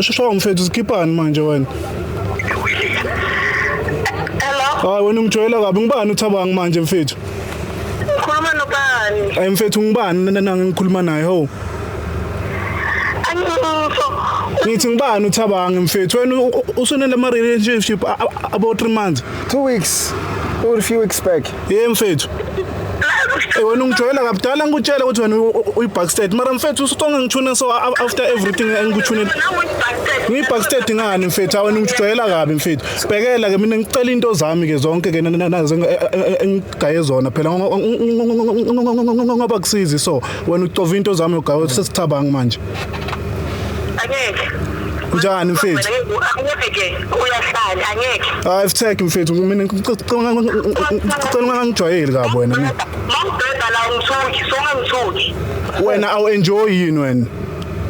Sho mfethu sikhipani manje wena? Hello. Hayi wena ungijwayela kabi ngibani uthabanga manje mfethu? Ngikhuluma nobani? Ay mfethu ngibani nana ngikhuluma naye ho. Angifo. Ngithi ngibani uthabanga mfethu wena usunele ama relationship about 3 months. 2 weeks or few weeks back. Hey mfethu. Hey wena ungijwayela kabudala ngikutshela ukuthi wena uyibackstage mara mfethu usutonga ngithuna so after everything engikuthune. Ngiyibackstage ngani mfethu wena ungijwayela kabi mfethu. Bhekela ke mina ngicela into zami ke zonke ke nazo engigaye zona phela ngoba kusizi so wena ucova into zami logawe sesithabangi manje angeke njani mfethu angeke uyahlala angeke hayi ifthek mfethu mina ngicela ungangijwayeli kabi wena mina mawubheda la ungithuki so ungangithuki wena awu enjoy yini wena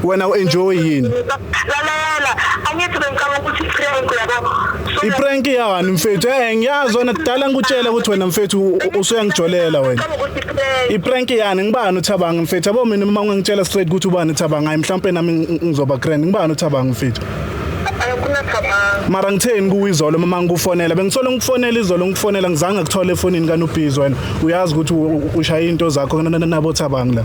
wena u-enjoy yini lalela angithi bengicabanga ukuthi prank yabo iprank yawani mfethu eh ngiyazi wena kudala ngikutshela ukuthi wena mfethu usuyangijolela wena iprank yani ngibani uthabanga mfethu yabo mina uma ngingitshela straight ukuthi ubani uthabanga hayi mhlawumbe nami ngizoba grand ngibani uthabanga mfethu mara ngitheni kuwe izolo mama ngikufonela bengisole ngikufonela izolo ngikufonela ngizange kuthole efonini kanubhizi wena uyazi ukuthi ushaya into zakho nabo thabanga la